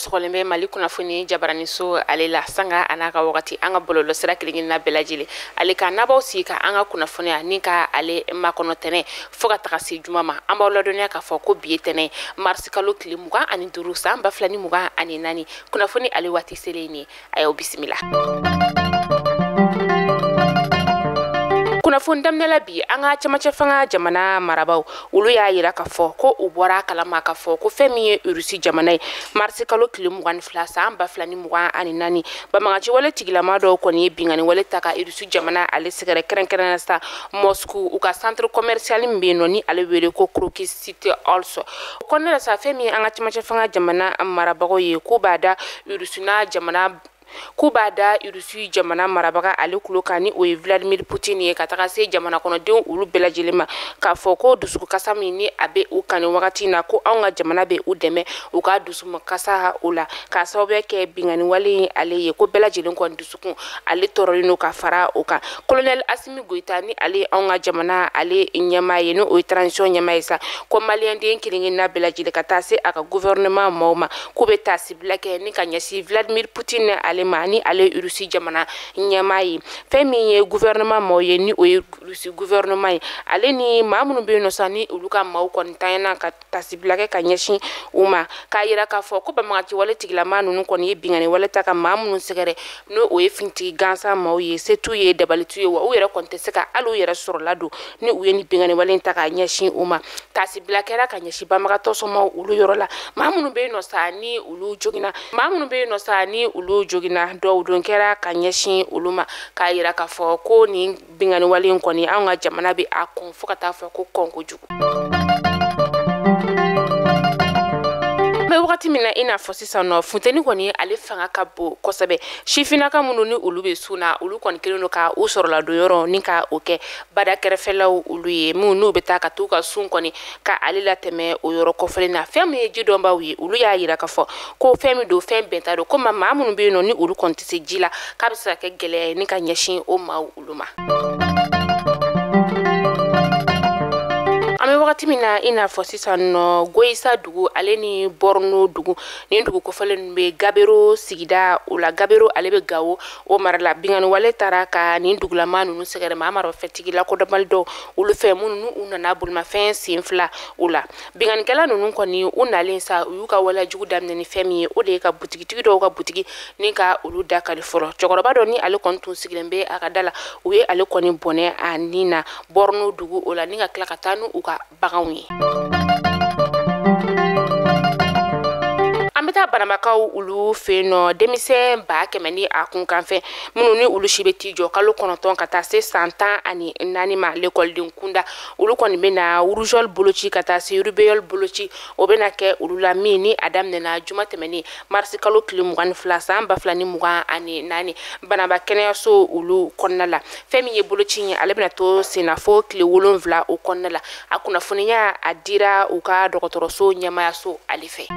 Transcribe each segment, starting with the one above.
sɔgɔlen bɛ mali kunnafoni jabaraniso ale la sanga an'a ka wagati an ka bɔlɔlɔ sira kelenkelenna bɛɛ lajɛlen ale kan a b'aw sigi ka an ka kunnafoniya ni ka ale makɔnɔ tɛnɛ fɔɔ ka taga se juma ma an b'aw ladɔniya k'a fɔ ko bi ye tɛnɛ marisi kalo tile mugan ani duuru saan ba fila ni mugan ani naani kunnafoni ale waati selen ye nin ye a y'aw bisimila kunnafoni daminɛ la bi an ka cɛmancɛ fanga jamana marabaw olu y'a yira k'a fɔ ko u bɔra a kalama k'a fɔ ko fɛn min ye urusi jamana ye marisi kalo tile mugan ni fila saan ba fila ni mugan ani naani bamagaciwale tigilama dɔw kɔni ye binganiwale ta ka urusi jamana ale sɛgɛrɛ kɛrɛnkɛrɛn na sa mɔsku u ka centre commercial min be yen nɔ ni ale wele ko crocus city hall so o kɔnɔna la sa fɛn min ye an ka cɛmancɛ fanga jamana marabagaw ye k'u b'a da urusuna jamana k'u b'a da irisi jamana marabaga ale kulo kan ni o ye vladimir putin ye ka taga se jamana kɔnɔdenw olu bɛɛ lajɛlen ma k'a fɔ ko dusukasa min ni a bɛ u kan nin wagati na ko anw ka jamana bɛ u dɛmɛ u ka dusukasa o la k'a sababuya kɛ binganiwale ye ale ye ko bɛɛ lajɛlen kɔni dusu kun ale tɔɔrɔlen don ka fara o kan kolonɛli asimi goyita ni ale ye anw ka jamana ale ɲɛmaa ye n'o ye transition ɲɛmaa ye sa ko maliyɛnden kelenkelenna bɛɛ lajɛlen ka taa se a ka guvɛrɛnɛman maaw ma k'u bɛ taasibila kɛ ni ka ɲɛsin vladimir putin ni ale ma ni ale ye rusi jamana ɲɛmaa ye fɛn min ye guvɛrɛnɛman maaw ye ni o ye rusi guvɛrɛnɛman ye ale ni maa minnu bɛ yen nɔ sa ni olu ka maaw kɔni tanyana ka tasibila kɛ ka ɲɛsin u ma k'a yira k'a fɔ ko banbagaciwale tigilama ninnu kɔni ye bingani wale ta ka maa minnu sɛgɛrɛ n'o o ye finitigi gansan maaw ye se t'u ye dabali t'u ye wa u yɛrɛ kɔni tɛ se ka hali u yɛrɛ sɔrɔla don ni u ye ni bingani wale in ta k'a ɲɛsin u ma tasibila kɛra ka ɲɛsin banbagatɔ somaaw olu yɔrɔ la maa minnu bɛ yen nɔ sa ni olu joginna maa minnu bɛ yen nɔ sa ni olu joginna duwawu don kɛra ka ɲɛsin olu ma k'a yira k'a fɔ ko nin binganiwale in kɔni an ka jamana bɛ a kɔn fo ka taa fɔ ko kɔn kojugu an bɛ wagati min na i n'a fɔ sisan nɔ funteni kɔni ale fanga ka bon kosɛbɛ sifinnaka minnu ni olu bɛ sun na olu kɔni kɛlen don ka u sɔrɔladonyɔrɔ ni ka o kɛ bada kɛrɛfɛlaw olu ye minnu n'u bɛ taa ka t'u ka sun kɔni ka ale latɛmɛ o yɔrɔ kofɔlen na fɛn min ye ji dɔnbaaw ye olu y'a yira k'a fɔ ko fɛn min don fɛn bɛnta don ko ma maa minnu bɛ yen nɔ ni olu kɔni tɛ se ji la k'a bɛ se ka kɛ gɛlɛya ye ni ka ɲɛsin o maaw olu ma. an bɛ wagati min na i n'a fɔ sisan nɔ goyisa dugu ale ni bɔrɔno dugu nin dugu kofɔlen bɛ gabero sigida o la gabero ale bɛ gawo o mara la binganiwale tara ka nin dugulamaa ninnu sɛgɛrɛ maa maramafɛntigi lakodɔnbali dɔw olu fɛ minnu ni u nana bolimafɛn sen fila u la binganikɛla ninnu kɔni u nalen sa u y'u ka walejugu daminɛ ni fɛn min ye o de ye ka butigitigi dɔw ka butigi ni ka olu da kali fɔlɔ cɛkɔrɔba dɔ ni ale kɔni tun sigilen bɛ a ka da la u ye ale kɔni bɔnɛ a ni na bɔrɔno dugu o la ni ka tila ka taa n'u ka baganw ye an bɛ taa bananbakaw olu fɛ yen nɔ denmisɛn ba kɛmɛ ni a kunkanfɛn minnu ni olu si bɛ t'i jɔ kalo kɔnɔntɔn ka taa se san tan ani naani ma lekɔliden kunda olu kɔni bɛna rougeole boloci ka taa se rubéole boloci o bɛna kɛ olu la min ni a daminɛna juma tɛmɛnen marisi kalo tile mugan ni fila san ba fila ni mugan ani naani bananba kɛnɛyaso olu kɔnɔna la fɛn min ye boloci ye ale bɛna to senna fo tile wolonfila o kɔnɔna la a kunnafoniya a dira u ka dɔgɔtɔrɔso ɲɛmaayaso ale fɛ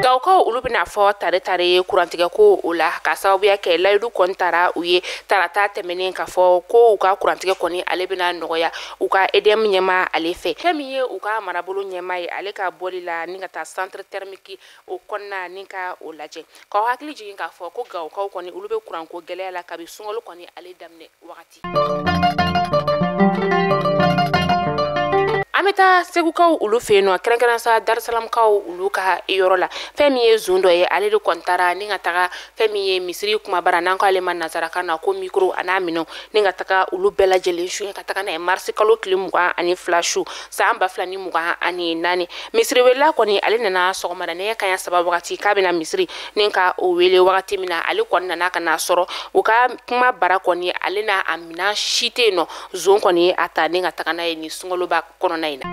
gawokaw olu bɛn'a fɔ tare tare kurantigɛ ko o la ka sababuya kɛ layidu kɔni tara u ye tarata tɛmɛnen k'a fɔ ko u ka kurantigɛ kɔni ale bɛna nɔgɔya u ka edm ɲɛmaa ale fɛ fɛn min ye u ka marabolo ɲɛmaa ye ale ka bɔli la ni ka taa centre thermique o kɔnɔna ni ka o lajɛ k'aw hakili jigin k'a fɔ ko gawokaw kɔni olu bɛ kuranko gɛlɛya la kabi sunkalo kɔni ale daminɛ wagati an bɛ taa segukaw olu fɛ yen nɔ kɛrɛnkɛrɛnsa darisalamukaw olu ka yɔrɔ la fɛn min ye zon dɔ ye ale de kɔni taara ni ka taga fɛn min ye misiri kumabara n'an k'ale ma nazarakan na ko micro an'a minɛnw ni ka taga olu bɛɛ lajɛlen su ka taga n'a ye marisi kalo tile mugan ani fila su san ba fila ni mugan ani naani misiri welela kɔni ale nana sɔgɔmada nɛgɛ kanɲɛ saba wagati k'a bɛna misiri ni ka o wele wagati min na ale kɔni nana ka n'a sɔrɔ u ka kuma bara kɔni ale n'a a minan si tɛ yen nɔ zon kɔni a ta ni ka taga n'a ye nin sunkaloba kɔnɔna in na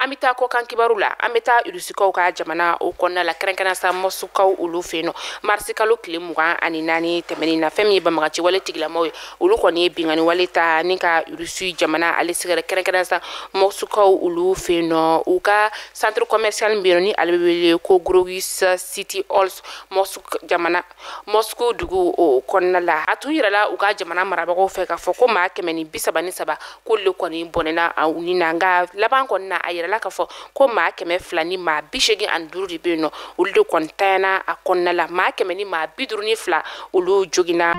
an bɛ taa kɔkan kibaru la an bɛ taa irusikaw ka jamana o kɔnɔna la kɛrɛnkɛrɛn sa mɔsukaw olu fɛ yen nɔ marisi kalo tile mugan ani naani tɛmɛnen na fɛn min ye banbaganci wale tigilamaw ye olu kɔni ye bingani wale ta ni ka irusi jamana ale sɛgɛrɛ kɛrɛnkɛrɛn sa mɔsukaw olu fɛ yen nɔ u ka centre commercial min bɛ yen nɔ ni ale bɛ wele ko crocus city halls mɔsu jamana moscou dugu o kɔnɔna la a tun yirala u ka jamana marabagaw fɛ k'a fɔ ko maa kɛmɛ ni bisaba ni saba k'olu le kɔni bɔnɛna u ni na nka laban kɔni na a yirala k'a fɔ ko maa kɛmɛ fila ni maa bi seegin ani duuru de bɛ yen nɔ olu de kɔni tanyana a kɔnɔna la maa kɛmɛ ni maa bi duuru ni fila olu joginna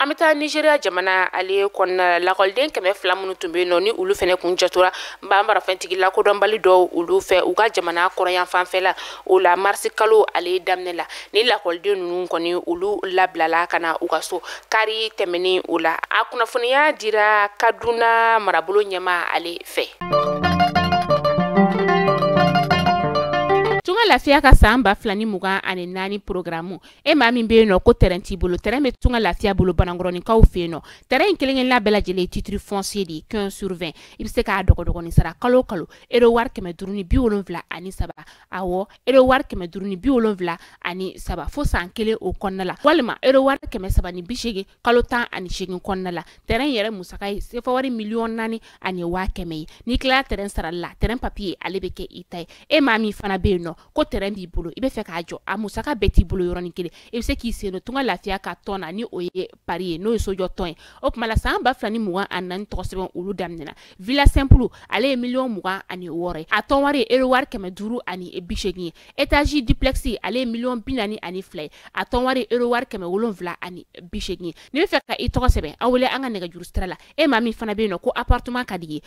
an bɛ taa nizeriya jamana ale kɔnɔna la lakɔliden kɛmɛ fila minnu tun bɛ yen nɔ ni olu fana kun jatora n b'a marafɛntigi lakodɔnbali dɔw olu fɛ u ka jamana kɔrɔyanfanfɛ la o la marisi kalo ale daminɛ la ni lakɔliden ninnu kɔni olu labilala ka na u ka so kari tɛmɛnen o la a kunnafoniya dira kaduna marabolo ɲɛmaa ale fɛ tunga lafiya ka san ba fila ni mugan ani naani porogaramu e maa min bɛ yen nɔ ko tɛrɛn t'i bolo tɛrɛn bɛ tunga lafiya bolo banankɔrɔninkaw fɛ yen nɔ tɛrɛn in kelen kelenna bɛɛ lajɛlen titiri fɔnsiye de ye 15 sur 20 i bɛ se k'a dɔgɔdɔgɔnin sara kalo kalo ero wari kɛmɛ duuru ni bi wolonwula ani saba awɔ ero wari kɛmɛ duuru ni bi wolonwula ani saba fo san kelen o kɔnɔna la walima ero wari kɛmɛ saba ni bi seegin kalo tan ani seegin kɔnɔna la tɛrɛn yɛrɛ musaka ye sefa wari miliyɔn naani ani waa kɛmɛ ye n'i tilala tɛrɛn sarali la tɛrɛn papiye ale bɛ kɛ i ta ye e maa min fana bɛ yen nɔ ko tɛrɛn b'i bolo i bɛ fɛ k'a jɔ a musaka bɛɛ t'i bolo yɔrɔnin kelen i bɛ se k'i sen don tunga lafiya ka tɔn na ni o ye pari ye n'o ye sojɔ tɔn ye o tuma la san ba fila ni mugan ani naani tɔgɔ sɛbɛn olu daminɛna villa sɛnpulu ale ye miliyɔn mugan ani wɔɔrɔ ye a tɔn wari ye ero wari kɛmɛ duuru ani bi seegin ye etazi diplɛkisi ale ye miliyɔn bi naani ani fila ye a tɔn wari ye ero wari kɛmɛ wolonwula ani bi seegin ye n'i bɛ fɛ ka i tɔgɔ sɛbɛn aw wele an ka nɛgɛjuru sira la e maa min fana bɛ yen nɔ ko appartement ka di i ye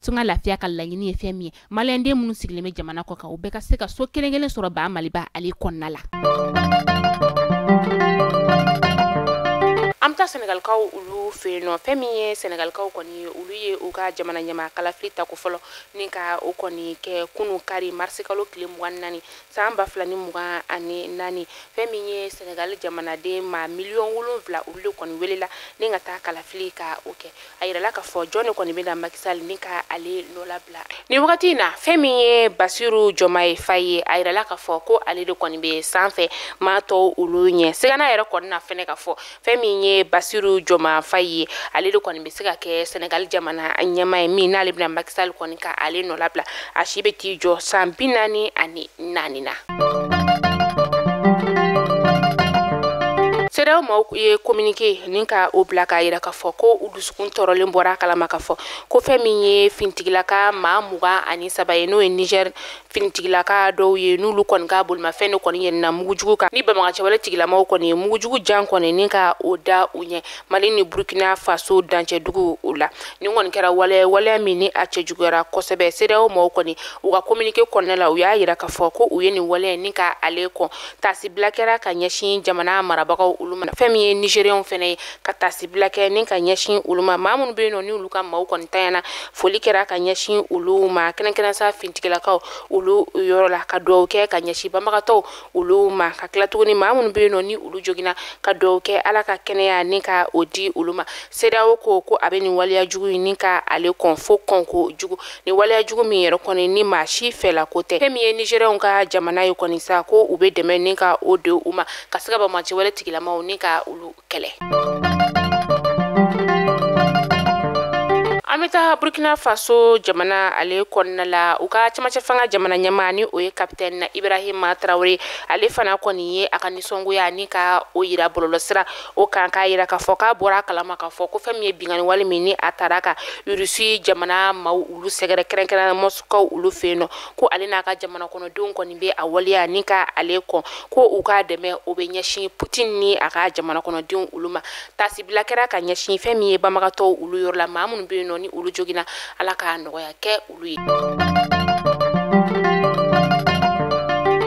tunga lafiya ka laɲini ye fɛn min ye maliyɛnden minnu sigilen bɛ jamana kɔkan u bɛɛ ka se ka so kelen kelen sɔrɔ ba maliba ale kɔnɔna la an bɛ taa sɛnɛgalikaw olu fɛ yen nɔ fɛn min ye sɛnɛgalikaw kɔni olu ye u ka jamana ɲɛmaa kalafili tako fɔlɔ ni ka o kɔni kɛ kunu kari marisikalo tile mugan naani san ba fila ni mugan ani naani fɛn min ye sɛnɛgali jamanaden maa miliyɔn wolonwula olu de kɔni welela ni ka taa kalafili ka o kɛ a yirala k'a fɔ jɔn de kɔni bɛna maki sali ni ka ale nɔlabila nin wagati in na fɛn min ye basiru jɔmaye faye a yirala k'a fɔ ko ale de kɔni bɛ sanfɛ maa tɔw olu ɲɛ sigana yɛrɛ kɔni na fɛnɛ k'a fɔ fɛn min ye basiru jɔmaye faye ale de kɔni bɛ se ka kɛ senegali jamana ɲɛmaa ye min n'ale bɛna maki sali kɔni ka ale nɔlabila a si bɛ t'i jɔ san bi naani ani naani na sedeyaw maaw ye kominike ni ka o bila k'a yira k'a fɔ ko u dusukun tɔɔrɔlen bɔra a kala ma k'a fɔ ko fɛn min ye finitigilaka maa mugan ani saba ye n'o ye niger finitigilaka dɔw ye n'olu kɔni ka bolimafɛn de kɔni yɛlɛnna mugujugu kan ni banbaganci wale tigilamaw kɔni ye mugujugu jan kɔni ni ka o da u ɲɛ mali ni burkina faso dancɛ dugu o la nin kɔni kɛra waleya waleya min ni a cɛjuguyara kosɛbɛ sedeyaw mɔgɔw kɔni u ka kominike kɔnɔna la u y'a yira k'a fɔ ko u ye nin waleya ni ka ale kɔn taasibila kɛra ka ɲɛsin jamana marabagaw olu ma fɛn min ye nizeriyɛnw fɛnɛ ye ka tasibila kɛ ni ka ɲɛsin olu ma maa minnu bɛ yen nɔ ni olu ka maaw kɔni tiɲɛna foli kɛra ka ɲɛsin olu ma kɛrɛnkɛrɛn sa finitigilakaw olu yɔrɔ la ka dugawu kɛ ka ɲɛsin banbagatɔw olu ma ka tila tuguni maa minnu bɛ yen nɔ ni olu joginna ka dugawu kɛ ala ka kɛnɛya ni ka o di olu ma sedeyawo ko ko a bɛ nin waleya jugu in ni ka ale kɔn fo kɔnko jugu ni waleya jugu min yɛrɛ kɔni ni maa si fɛla ko tɛ fɛn min ye nizeriyɛnw ka jamana ye kɔni sa ko u bɛ dɛmɛ ni ka o di u ma ka se ka banbagaci wale tigilamaw ni ka olu kɛlɛ an bɛ taa burkina faso jamana ale kɔnɔna la u ka cɛmancɛ fanga jamana ɲɛmaa ni o ye kapitɛni na ibrahima tarawele ale fana kɔni ye a ka nisɔngoya ni ka o yira bɔlɔlɔsira o kan k'a yira k'a fɔ k'a bɔra a kalama k'a fɔ ko fɛn min ye binkanni wale min ni a taara ka irisi jamana maaw olu sɛgɛrɛ kɛrɛnkɛrɛn mɔsiku olu fɛ yen nɔ ko ale n'a ka jamana kɔnɔdenw kɔni bɛ a waleya ni ka ale kɔn ko u ka dɛmɛ o bɛ ɲɛsin putin ni a ka jamana kɔnɔdenw olu ma tasibila kɛra ka ɲɛsin fɛn min ye banbagatɔw olu yɔrɔ la maa minnu bɛ yen nɔ ni olu joginna ala ka nɔgɔya kɛ olu ye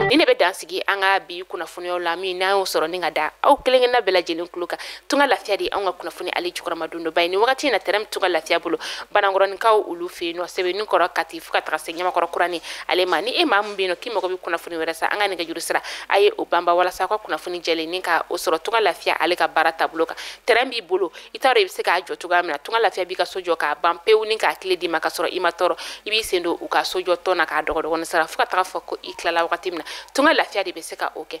ni ne bɛ dansigi an ka bi kunnafoniyaw la min n'an y'o sɔrɔ ni ka da aw kelen kelenna bɛɛ lajɛlen tulo kan tunga lafiya de an ka kunnafoni ale jukɔrɔmadondonbaa ye ni wagati in na tɛrɛn bɛ tunga lafiya bolo banankɔrɔninkaw olu fɛ yen nɔ sebeninkɔrɔ kati fo ka taga se ɲamakɔrɔ kurani ale ma ni e maa min bɛ yen nɔ k'i mago bɛ kunnafoni wɛrɛ sa an ka nɛgɛjuru sira a ye o panpan walasa aw ka kunnafoni jɛlen ni ka o sɔrɔ tunga lafiya ale ka baara taabolo kan tɛrɛn b'i bolo i t'a dɔn i bɛ se k'a jɔ cogoya min na tunga lafiya b'i ka so jɔ k'a ban pewu ni k'a kile d'i ma ka sɔrɔ i ma tɔɔrɔ i b'i sen don u ka sojɔ tɔn na k'a dɔgɔdɔgɔnin sara fo ka taga fɔ ko i tilala wagati min na tunga lafiya de bɛ se ka o kɛ